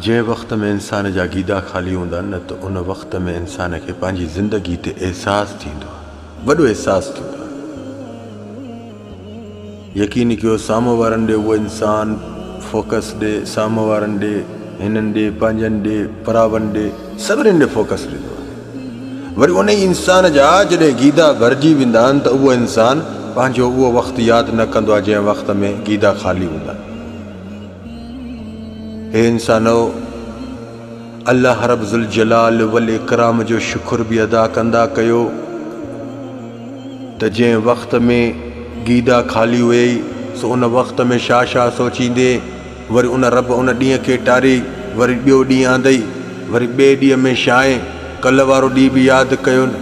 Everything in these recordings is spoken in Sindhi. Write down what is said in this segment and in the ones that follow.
جنهن وقت ۾ انسان جا گيدا خالي هوندا آهن نه ته ان وقت ۾ انسان کي پنهنجي زندگي تي احساس ٿيندو آهي. وڏو احساس ٿيندو آهي. يقين ڪيو سامهون وارن ڏي اهو انسان فوڪس ڏي، سامهون وارن ڏي، هنن ڏي، پنهنجن ڏي، پراون ڏي، سڀني ڏي فوڪس ڏيندو آهي. وري ان ئي انسان جا جڏهن گيدا ڀرجي ويندا آهن ته اهو انسان پنهنجو اهو وقت ياد نه ڪندو آهي جنهن وقت ۾ گيدا خالي هوندا آهن. اي انسانؤ! الله رب ذوالجلال والاڪرام جو شڪر به ادا ڪندا ڪيو ته جنهن وقت ۾ گيدا خالي هئي سو ان وقت ۾ شاهه شاهه سوچيندي وري ان رب ان ڏينهن کي ٽاري وري ٻيو ڏينهن آندئي وري ٻئي ڏينهن ۾ شاهه ڪلهه وارو ڏينهن به ياد ڪيو نه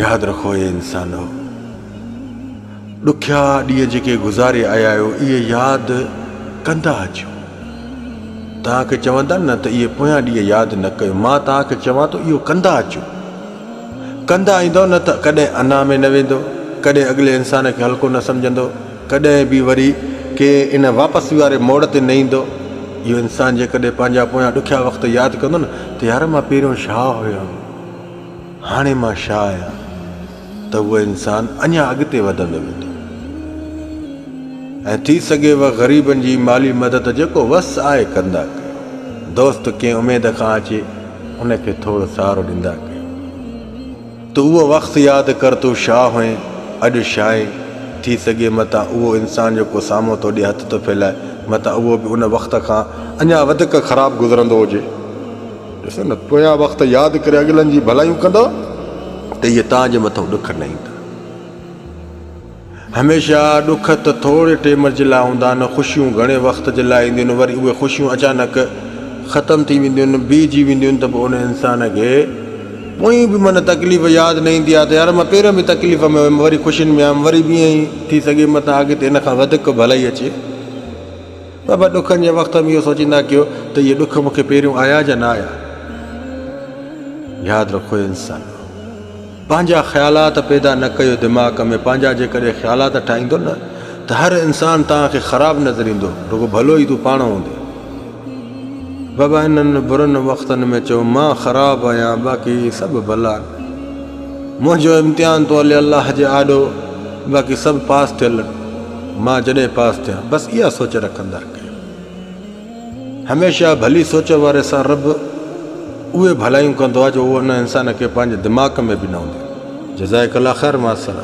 ياد رکو اي انسانؤ! ڏکيا ڏينهن جيڪي گذاري آيا آهيو اهي ياد ڪندا اچو. توهان کي چون ٿا نه ته اهي پويان ڏينهن ياد نه ڪيو مان توهان کي چوان ٿو اهو ڪندا اچو. ڪندا ايندو نه ته ڪڏهن انا ۾ نه ويندو ڪڏهن اڳلي انسان کي هلڪو نه سمجهندو ڪڏهن به وري ڪي ان واپسي واري موڙ تي نه ايندو. اهو انسان جيڪڏهن پنهنجا پويان ڏکيا وقت ياد ڪندو نه ته يار مان پهريون شاهه هيم هاڻي مان شاهه آهيان. ته هو انسان اڃا اڳتي وڌندو ويندو ۽ ٿي سگهي و غريبن جي مالي مدد جيڪو وس آهي ڪندا ڪيو. دوست ڪنهن اميد کان اچي ان کي ٿورو سهارو ڏندا ڪيو. تو اهو وقت ياد ڪر تون شاهه هئين اڄ شاهين ٿي سگهي متان اهو انسان جيڪو سامهون توڏي هٿ ٿو ڦهلائي متان اهو به ان وقت کان اڃا وڌڪ خراب گذرندو هجي. ڏسو نه پويان وقت ياد ڪري اڳلن جي ڀلائيون ڪندؤ ته اهي توهان جي مٿان ڏک نه ايندا. هميشه ڏک ته ٿوري ٽيم جي لاء هوندا آهن، خوشيون گهڻي وقت جي لاء اينديون آهن، وري اهي خوشيون اچانڪ ختم ٿي وينديون آهن، بيهجي وينديون آهن ته پوء ان انسان کي پوئين به من تڪليف ياد نه ايندي آهي ته يار مان پهريان به تڪليف ۾ هيم وري خوشين ۾ آيم وري به ائين ٿي سگهي متان اڳتي ان کان وڌيڪ ڀلائي اچي. بابا ڏکن جي وقت ۾ اهو سوچيندا ڪيو ته اهي ڏک مون کي پهريون آيا جا نه آيا؟ ياد رکو اي انسانو! پنهنجا خيالات پيدا نه ڪيو دماغ ۾ پنهنجا جيڪڏهن خيالات ٺاهيندو نه ته هر انسان توهان کي خراب نظر ايندو رڳو ڀلو ئي تون پاڻ هوندين. بابا انهن برن وقتن ۾ چيو مان خراب آهيان باقي سڀ ڀلا آهن. منهنجو امتحان تو هلي الله جي آڏو باقي سڀ پاس ٿيل آهن. مان جڏهن پاس ٿيان بس اها سوچ رکندر ڪيو هميشه ڀلي سوچ واري سان رب اهي ڀلايون ڪندو آهي جو اهو ان انسان کي پنهنجي دماغ ۾ به نه هوندي جزائي ڪلا خير ماسر